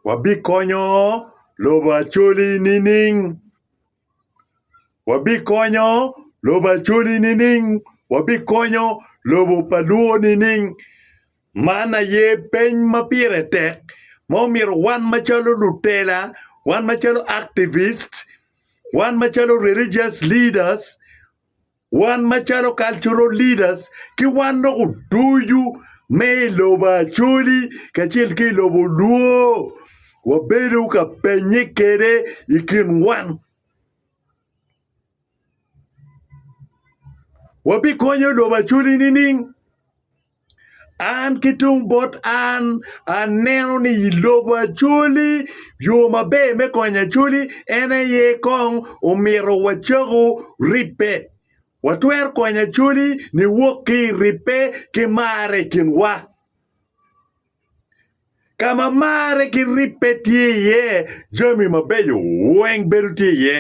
Wabikonyo lobo Acholi nining? Wabikonyo lobo Acholi nining? Wabikonyo lobo pa Luo nining? Man aye peny ma pire tek ma omyero wan macalo lutela, wan macalo activists, wan macalo religious leaders, Wan macalo cultural leaders ki wan dok oducu me i lobo Acholi kacel ki i lobo Luo wabedo ka penye kwede i kin wan. Wabikonyo lobo Acholi nining? An ki tung bot an, aneno ni i lobo Acholi, yo maber me konyo Acholi en aye kong omito wacako ribbe. Watwero konyo Acholi niwok ki i ribbe ki marre i kinwa. Ka ma marre ki ribbe tye iye, jami mabeco weng bedo tye iye.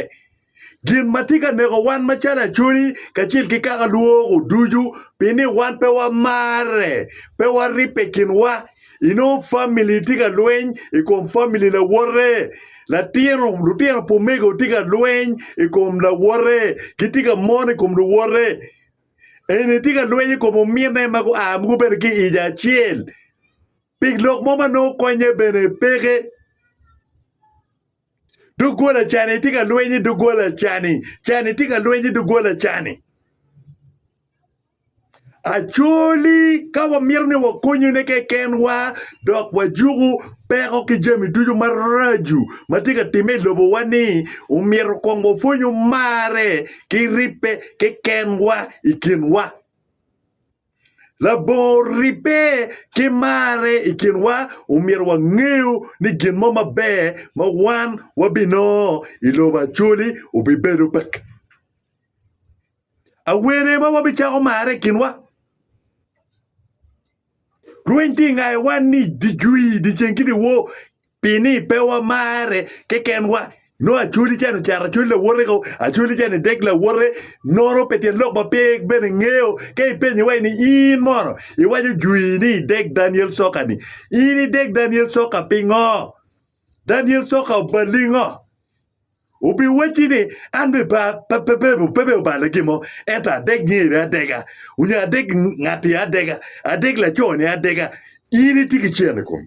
Gin ma tye ka neko wan macalo acoli kacel ki kaka lwoko ducu pi ni wan pe wamarre, pe waribbe i kinwa. Inongo famili tye ka lweny i kom famili lawote, latino lutino pumego tye ka lweny i kom lawote, gitye ka mon i kom luwote. Eni etye ka lweny i kom ominne ma gua ma gubedo ki ic acel pi lok mo ma nongo konye bene peke. Doggola cani tye ka lweny ki doggola cani, cani tye ka lweny ki doggola cani. Acoli ka wamito ni wakonyone kekenwa dok wajuko peko ki jami ducu maraco ma tye ka timme i lobowa-ni, omyero kong wapwony omarre. ki ribbe kekenwa i kinwa. Labongo ribbe ki marre i kinwa omyero wangeyo ni gin mo maber ma wan wabinongo i lobo Acoli obibedo pa awene ma wabicako marre i kinwa. Rweny tye i ngaewa ni dyecwii, dyeceng ki dyewor Pini pe wamare kekenwa? Nongo Acholi ca ni ocato Acholi lawote ko, Acholi ca ni dek lawote, nono pi tyen lok ma pe bene ingeyo. Ka ipenyo iwaci ni in mono iwaco jwi ni idek Daniel Soka-ni, in idek Daniel Soka pingo? Daniel Soka obalingo? Obiwacci ni an be ba, pe, pe, pe, pe, pe obala gin mo, ento adek ngeri adega, onyo adek ngatti adega, adek laco-ni adega. In itye ki cen i komi.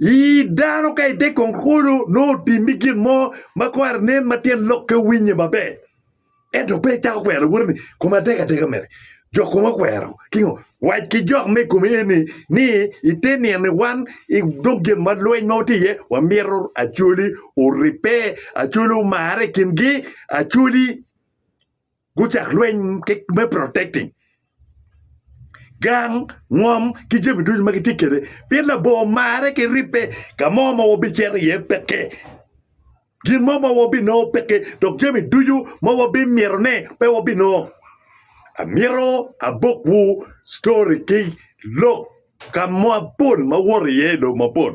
I dano ka ite konkolo nongo otimi gin mo ma kore nen ma tyen lok ka winye maber ento pe icako kwero lawoti ni koma tek ateka mere jo koma okwero kingo wac ki jok me kome eni ni ite nino wan i dog gin ma lweny ma watye iye wamito acoli oribbe acoli omare i kingi acoli Gucak lweny me protecting gang, ngom ki jami ducu ma gitye kwede pien labongo marre ki ribbe. Ka mo ma wabicito iye peke, gin mo ma wabinongo peke, dok jami ducu ma wabimitone pe wabinongo. Amito abokwu story ki lok ka mapol ma woto iye i lobo mapol.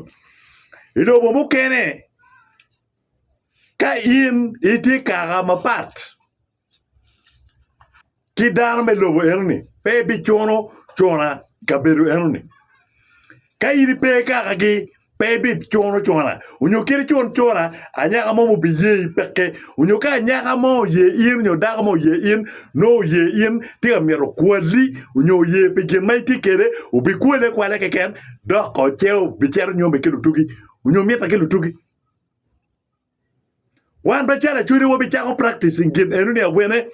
I lobo mukene. Ka in itye kaka mapat ki dano me lobo enoni, pe ibicuno cona i kabedo enoni. Ka in ipe kakagi, pe ibicuno cona onyo kit icun cona anyaka mo ma obiye i peke onyo ka anyaka mo oye in onyo dako mo oye in nongo oye in tye ka myero okwali onyo oye pi gin ma itye kede obikwali akwala keken dok oce obicito nyome ki lutugi onyo mitte ki lutugi. Wan macalo Acwele wabicako practicing gin eno ni awene.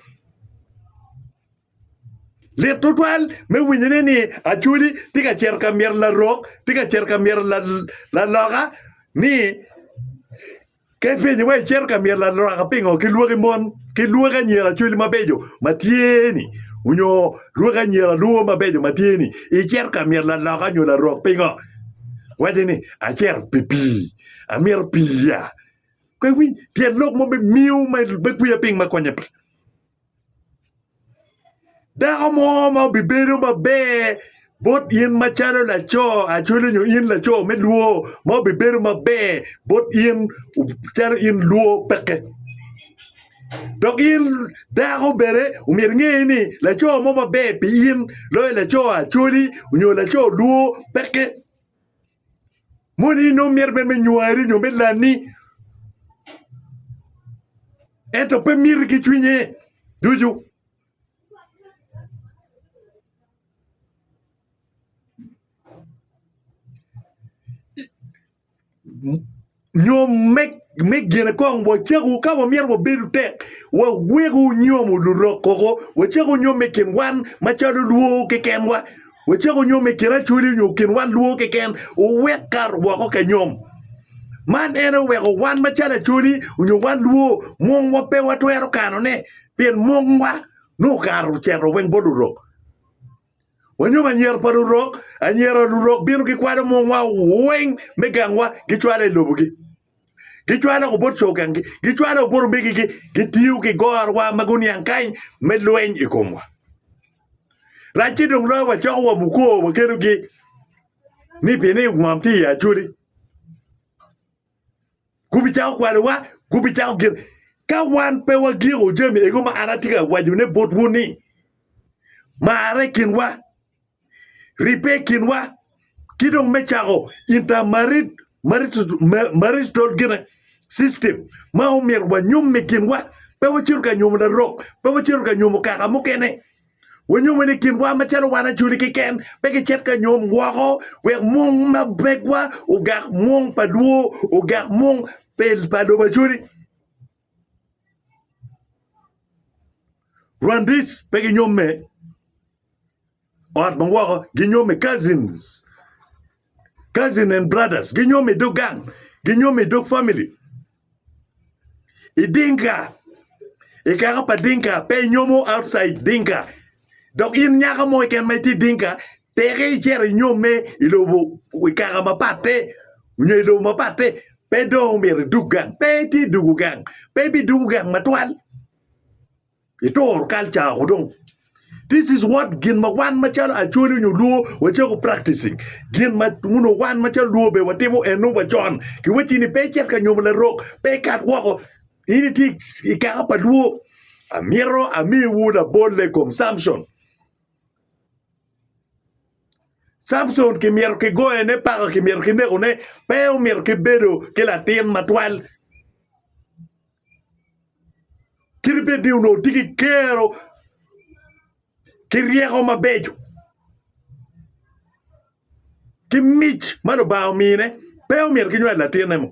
Lit tutwal me winyone ni Acweli tye ka cito ka myero larok, tye ka cito ka myero laloka ni ka ipenye wa icito ka myero laloka pingo ki lwaki mon ki lwaki anyira Acweli mabeco ma tye ni onyo lwaki anyira Luo mabeco ma tye ni icito ka myero laloka nyo larok pingo. Wace ni, Acito pi pii. Amito pii ya. Pe iwinj tyen lok mo me miyo me kwiya piny ma konye pe. Dako mo ma obibedo maber bot in macalo laco acoli nyo in laco me lwor ma obibedo maber bot in calo in lwor peke. Dok in dako bene omyero inge ni laco mo maber pi in loyo laco Acholi nyo laco Luo peke. Moni nongo mito bene me nywari nyo me lani ento pe miti ki cwinye ducu. Nyom me gine kong wacako ka wamyero wabedo tek wawek onyomo lurok koko wacako nyom i kin wan macalo lwo kekenwa wacako nyom i kin acholi nyo i kin wan lwo keken owek kato woko ka nyom man en aye oweko wan macalo acholi nyo wan lwo mwongwa pe watwero kanone pien mwongwa nongo okato ocito weng bot lurok. Wanyom anyira pa lurok, anyira lurok bino gikwalo mungwa weng me gangwa gicwalo i lobogi. Gicwalo woko bot cogangi, gicwalo woko bot omegigi, gitiyo ki gorwa ma guniang kany me lweny i komwa. Racce dong loyo wacoko wa mukor wakelogi ni pienni ngom tye i Acoli. gubicako kwalowa, gubicako gin. Ka wan pe wagingo jami ego ma an atye ka wacone botwu ni, marre i kinwa, ribbe i kinwa, ki dong me cako inter-marital gine system ma omyero wanyom i kinwa, pe wacito ka nyomo larok, pe wacito ka nyomo kaka mukene. Wanyome ni kinwa macalo wan ajoli keken pe gicit ka nyom woko wek mung ma begwa ogak mung pa lwo, ogak mung pa lobo ajoli. Rwandese pe ginyomme ot ma woko, ginyomme cousins. cousin and brothers ginyomo i dog gang ginyomo i dog family i dinka i kaka pa dinka pe inyomo outside dinka dok in nyaka mo keken ma itye dinka teke icito inyomme i lobo i kaka mapatte nyo i lobo mapatte pe dong omyero idug gang pe itye i dugo gang pe ibidugo gang matwal. Itoro culture ako dong. This is what gin ma wan macalo Acholi nyo Luo wacako practicing. Gin ma uno wan macalo Luo be watimo eno wa con. Ki wacci ni pe icit ka nyomo larok, pe ikat woko. In itye i kaka pa Luo. Amito amiwu labolle kom Samson. Samson kimyero kigoyone paka, kimyero kinekone, pe omyero kibedo ki latin matwal. kit bed ni onongo tye ki kero ki ryeko mabeco ki mic ma Lubanga omine pe omyero ki nywal latinne mo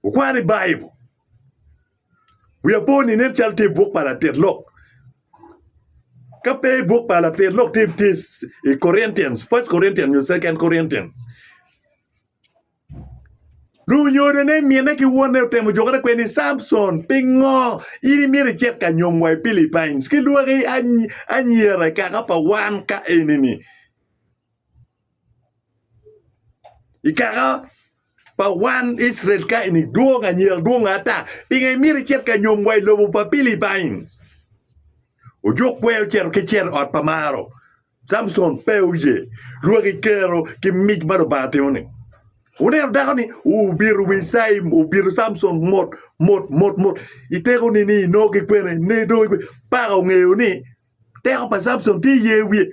okwano i Baibul wiya po ni nen calo tye i buk pa latit lok ka pe i buk pa latit lok tye i Korintian first Korintian nyo second Korintian. Lunyodo ne mine ki wonne otemo jokere kwede ni, Campson, pingo in imyero icit ka nyom wa i Philippines ki lwaki anyira i kaka pa wan ka eni-ni? I kaka pa wan Icrael ka eni dwong anyira dwong ata, pingo imyero icit ka nyom wa i lobo pa Philippines? Ojuk kwer ocito ki cito i ot pa Maro. Samson pe oye rwaki kero ki mic ma Lubanga timo-ni. Wuneno dako-ni obito wi caim, obito Samson mot mot mot mot, i teko ni ni nongo ki kwene, ne dong ki kwe-ni. Paka ongeyo ni teko pa Samson tye i ye wiye.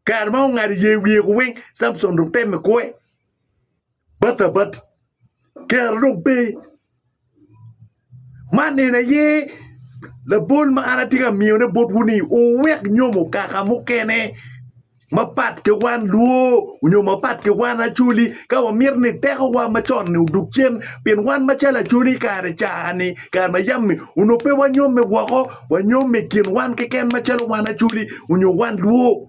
Kare ma ongado i ye wiye-ku weng, Samson dong temme kwe. Bat abat kero dong pe. Man en aye labol ma an atye ka miyone botwu ni wuwek nyomo kaka mukene mapat ki wan Luo nyo mapat ki wan Acholi ka wamito ni tekowa macon-ni odog cen pien wan macalo Acholi i kare ca-ni i kare ma yam-mi onongo pe wanyomme woko wanyomme i kin wan keken macalo wan Acholi nyo wan Luo.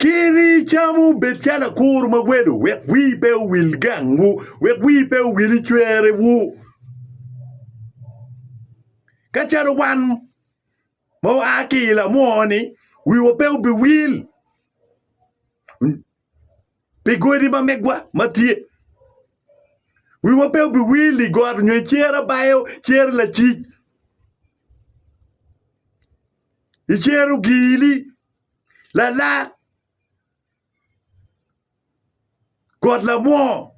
Kir icamu bed calo akur ma welo, wek wii pe owil gangwu, wek wii pe owil i cwerewu, ka calo wan ma waa ki i lamwo-ni wiwa pe obiwil pi godi ma megwa ma tye, wiwa pe obiwil i got nyo i cer abayo, cer lacic. I cero gili lala got lamwoo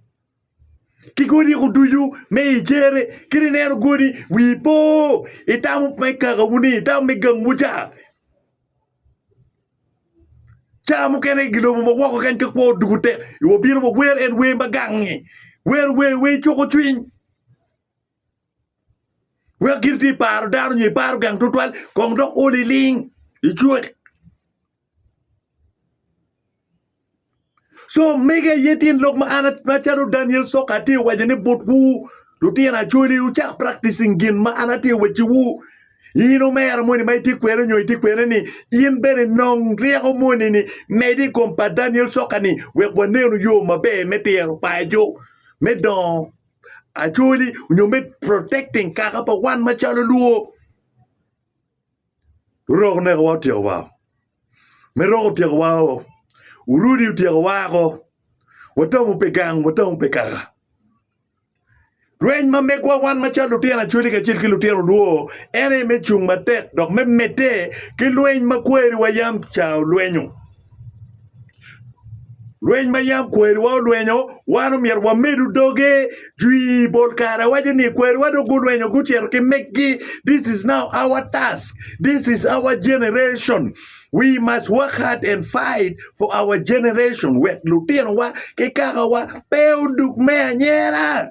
ki godi ku ducu me i cere kadi ineno godi wi po itamo me kakawu ni itamo me gangwu ca ca mukene i gilobo ma woko kany ka kwo odwogo tek wabino wawer en wer ma gangi wero wer wer cuko cwiny Wek gin ti paro dano nyo iparo gang tutwal kong dok o liling icwek. So mege ye tin lok ma an macalo Daniel Soka ati waco ni botwu lutino Acholi wucak practicing gin ma an ati weci wu. In omera moni ma iti kwene nyo iti kwene ni in bene nong ryeko moni ni medi i kom pa Daniel Soka ni wek wanenu yo maber me tiro paco me dongo actually onyo me protecting kaka pa wan macalo luo. Uroko neko wa otyeko wa. Me roko otyeko wa o. Urudi otyeko wa ako. Watamu pe gang, watamu pe kaka. Rweny ma megwa wan macalo lutino actually kacel ki lutino luo en aye me cung matek dok me mete ki lweny ma kweri wa yam ca olwenyo. Lweny ma yam kwariwa olwenyo, wan omyero wamedu doge jwi. Bol kare waco ni kwariwa dong gulwenyo gucito ki meggi. This is now our task. This is our generation. We must work hard and fight for our generation wek lutinowa ki kakawa pe odug me anyera.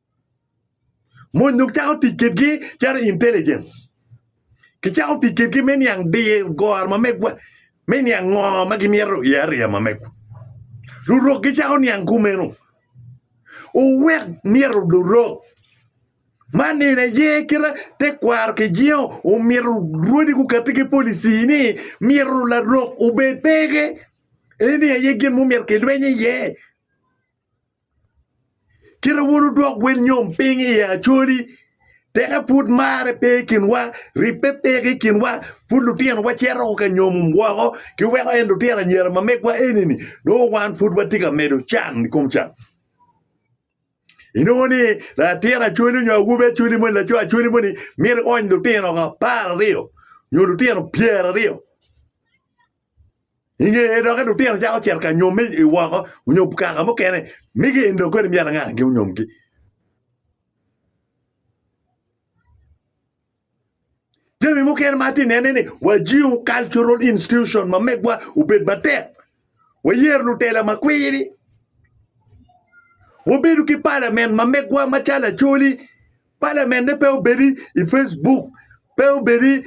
Mony dong cako tic kwedgi calo intelligence. Kicako tic kwedgi me niang diyo goro ma megwa, me niang ngo ma gimito iye ariya ma megwa. Lurok gicako niang kumeno. Wuwek myero lurok ma nino aye kite tekwaro kijingo omyero rwodi gukati ki policy ni myero larok obed peke. Eni aye gin ma omyero kilweny iye. Kit ma wun wudwoko wel nyom piny i ye Acholi, teke pud marre pe i kinwa, ribbe pe ki i kinwa, pud lutinowa cito ka nyomo woko, kiweko en lutino anyira ma megwa eni-ni, nongo wan pud watye ka medo can i kom can. Inongo ni latin Acholi nyo awobi Acholi moni, laco Acholi moni myero eony lutino apar aryo nyo lutino pyeraryo. I ngeye dok i lutino cako cito ka nyomme i woko nyo kaka mukene ni gin dong kodi myero angaki onyomgi. Jami mukene ma atye nene ni wajiw cultural institution ma megwa obed matek wayer lutela ma kwiri wabedo ki palamen ma megwa macalo acholi palamenne pe obedi i Facebook pe obedi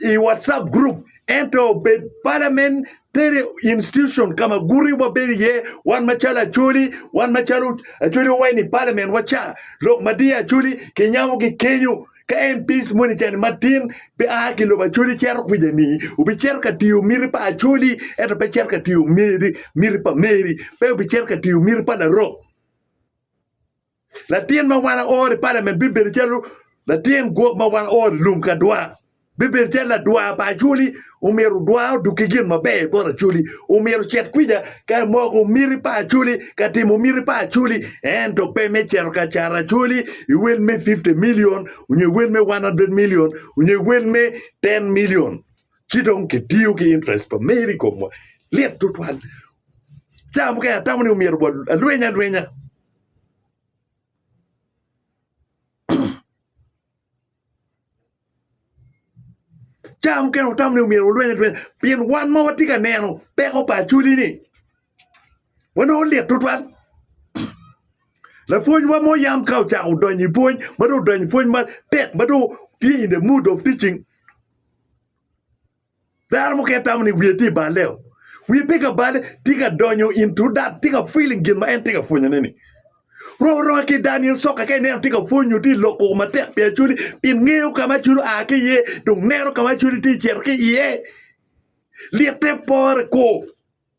i WhatsApp group ento obed parliament tere institution ka ma guti wabedo iye wan macalo Acholi wan macalo Acholi wa waini parliament wa ca lok ma diya Acholi kinyamo ki kenyo ka MPs moni cani matin be a ki lobo Acholi cito kwica ni obicito ka tiyo miti pa Acholi ento pe cito ka tiyo miti miti pa Meri pe obicito ka tiyo miti pa Larok Latin ma wan aoro i palament bibedo calo latin gwok ma wan aoro i lum ka dwa. Bibedo calo ladwa pa Acholi, omyero dwa odug ki gin maber i bot Acholi. Omyero ocit kwija ka moko miti pa Acholi, ka timo miti pa Acholi, ento pe me cito ka caro Acholi i wel me fifty milion nyo i wel me one hundred milion nyo i wel me ten milion. Ci dong kitiyo ki interest pa meri i komwa. Lit tutwal. Cawa mukene atamo ni omyero wa alweny alwenya. Caa mukene watamo ni myero walweny alwenya pien wan ma watye ka neno peko pa Acholi-ni wanongo lit tutwal. Lapwonywa mo yam ka ocako donyo i pwony ma dong odonyo i pwony matek ma dong tye in the mood of teaching. Dano mukene tamo ni wiye tye i baleo. Wiye pe ka bale, tye ka donyo into that, tye ka feeling gin ma en tye ka pwonyone-ni. Rom aroma ki Daniel Soka ka ineno tye ka pwony nyo tye loko matek pi Acholi pien ngeyo ka ma Acholi oa ki iye dong neno ka ma Acholi tye cito ki iye. Lyettepore ko!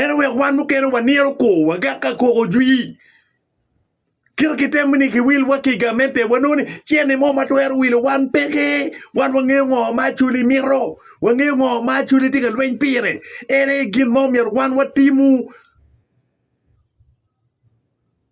En oweko wan mukene waniro kor wa gak ka koko jwii. Kit kitemo ni kiwil wa ki gamente wanongo ni cene mo ma twero wilo wan peke. Wan wangeyo ngo ma Acholi mito. Wangeyo ngo ma Acholi tye ka lweny pire. En aye gin ma omyero wan watimu.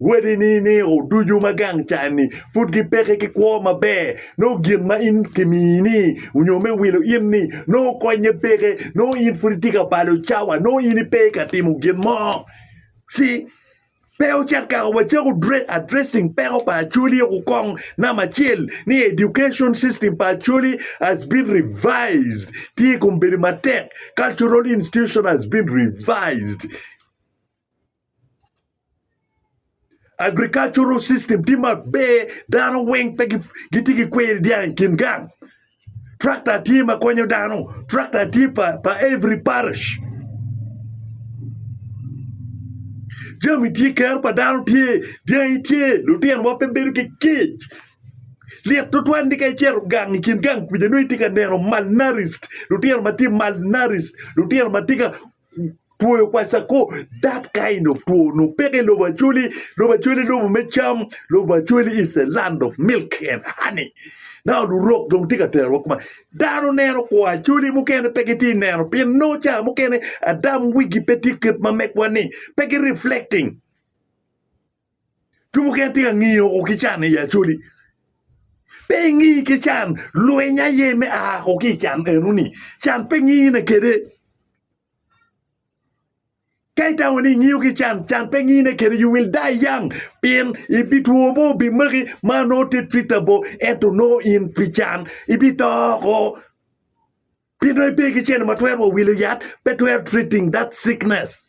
Wadini nino ducu ma gang can-ni pud gipeke ki kwo maber. Nongo gin ma in kimiyi-ni onyo me wilo in-ni nongo konye peke. Nongo in pud itye ka balo cawa. Nongo in ipe ka timo gin mo. See? Pe ocit kaka wacako addressing peko pa Acholi oko kong. Namba acel ni education system pa Acholi has been revised. Tye i kom bedo matek. Cultural institution has been revised. Agricultural system tye maber dano weng pe gitye ki kweri dyang i kin gang tractor tye ma konyo dano tractor tye pa every parish jami tye kero pa dano tye dyangi tye litinowa pe bedo ki kic lyet tutwal ni ka icito gang i kin gang kwija nongo itye ka neno malnaris lutino ma tye malnaris lutino ma tye ka Twoyo kwacako dat ka in otwo nyo peke i lobo acoli, lobo acoli lobo me cam, lobo acoli is a land of milk and honey. Now lurok dong tye ka terowa kuma dano neno kwo acoli mukene pe gitye neno pien nongo ca mukene adam wigi pe tye kit ma megwa ni pe gi reflecting. Two mukene tye ka ngiyo woko ki can i Acholi. Pe ingi ki can, lweny aye me a woko ki i can enoni. Can pe ngine kede. Ka itamo ni ingiyo ki can, can pe ngine kede. You will die young pien ibi two mo obi maki ma no te treatable ento no in pi can ibi to oko pien no ibe ki cene ma twero wa wilo yat pe twero treating that sickness.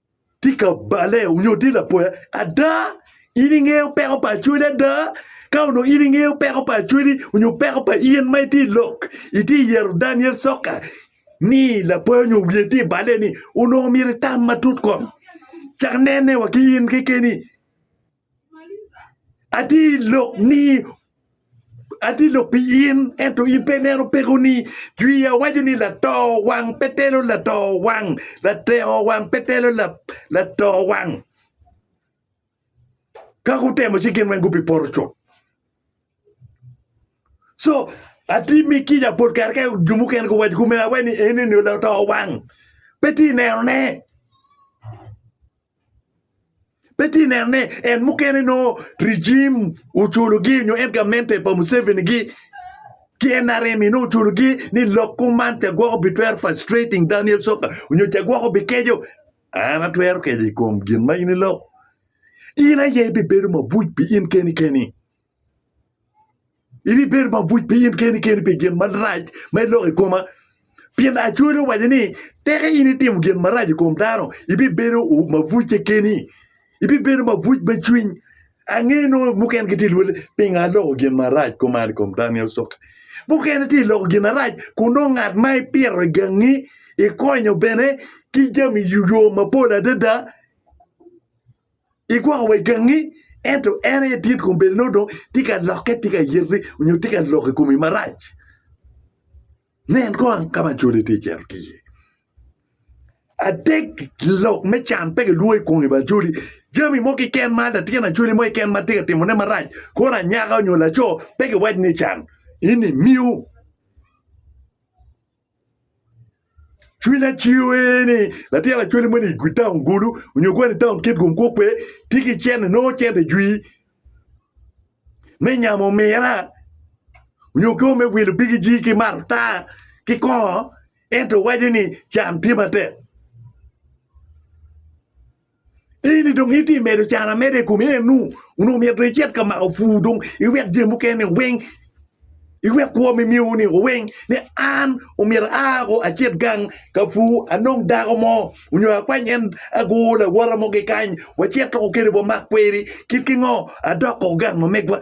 Tye ka bale nyo tye lapoya? Ada, in ingeyo peko pa Acholi ada? Ka onongo in ingeyo peko pa Acholi nyo peko pa in ma itye i lok, itye yero Daniel Soka ni lapoya nyo wiye tye i bale ni, onongo myero itam matut kong. Cak nene wa ki in kekeni. Ati lok ni, ati lok pi in, ento in pe ineno pekoni. Jwia waco ni lato wang pe telo lato wang, lateo wang pe telo lato wang. Ka gutemo ci gin weng gubipoto cut. So ati mi kica bot kare ka jo mukene guwaco kome awaci ni eni ni lato wang pe ti nenone. Pe itye neno ni en mukene nongo rijim oculogi nyo en gamente pa Museveni-gi ki NRM-mi nongo oculogi ni lok kuman ca gwoko bitwero frustrating Daniel Soka nyo ca gwoko bikeco. An atwero keco i kom gin ma in iloko. In aye ibibedo mabuc pi in keni keni. Ibibedo mabuc piny in keni keni pi gin marac ma iloko i koma, pien Aco dong owaco ni, Tika in itimo gin marac i kom dano? Ibibedo mabuc kekeni, ibibedo mabuc me cwiny. Ange nongo mukene gitye ka lwodo ni, 'Pingo aloko gin marac kuman i kom Daniel Coka? Mukene tye ka loko gin marac kun nongo ngat ma ipito i gangi ikonyo bene ki jami i yo mapol adada. Igwoko wa i gangi, ento en aye dit kun bed nongo dong tye ka lokke, tye ka yiti nyo tye ka lok i komi marac. Nen kong ka ma cwali tye cito ki iye. Adek, lok me can pe kilwongo i kom gin cwali. Jami mo kiken ma latin acwali mo keken ma tye ka timone marac, kono anyaka nyo laco pe kiwac ni can. Ini miu. Cwiny acwiyo ee ni latin lacwale moni i taun Gulu onyo kwene i taun Kitgum kwo kwe tye ki cente nongo cente jwi me nyamo omira onyo kwo me wilo bigi ji ki mato taa ki kongo ento waco ni can tye matek. Eni dong itye ka medo can ameda i kom eno, onongo myero dong icit ka mako pur dong iwek jami mukene ni weng, iwek kwo ma imiyo ni weng ni an myero aa ko acit gang ka pur anong dako mo nyo akwany en agur lawote mo kikany wacit kwede wamak kweri kit ki ngo adok koko gang ma megwa.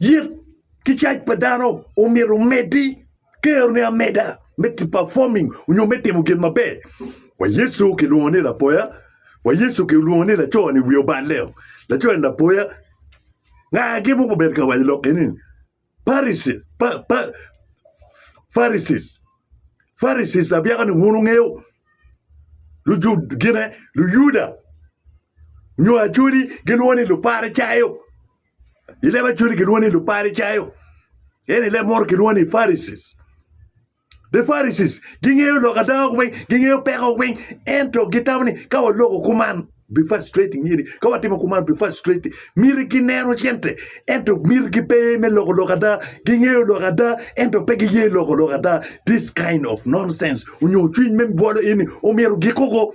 Yik ki caij pa dano omyero omeddi kerone ameda me performing onyo me timo gin maber. Wa Yecu kilwongo ni lapoya, wa Yecu kilwongo ni laco ni wiye oballe-o, laco ni lapoya. Nga gin mogo obedo ka waco lok eni ni? Pharisees, Pharisees abyaka ni wun wungeyo gine luyuda nyo Acholi gilwongo ni Luparicayo i leb Acholi gilwongo ni Luparicayo ento i leb munu kilwongo ni Pharisees. The Pharisees gingeyo lok adanga weng, gingeyo peko weng, ento gitamo ni ka waloko kuman be frustrating myeri ka watimo kuman be frustrating myeri gineno cente ento myeri gipe me loko lok ada gingeyo lok ada ento pe giye loko lok ada this kind of nonsense onyo cwiny me bwolo ini omyero gikuko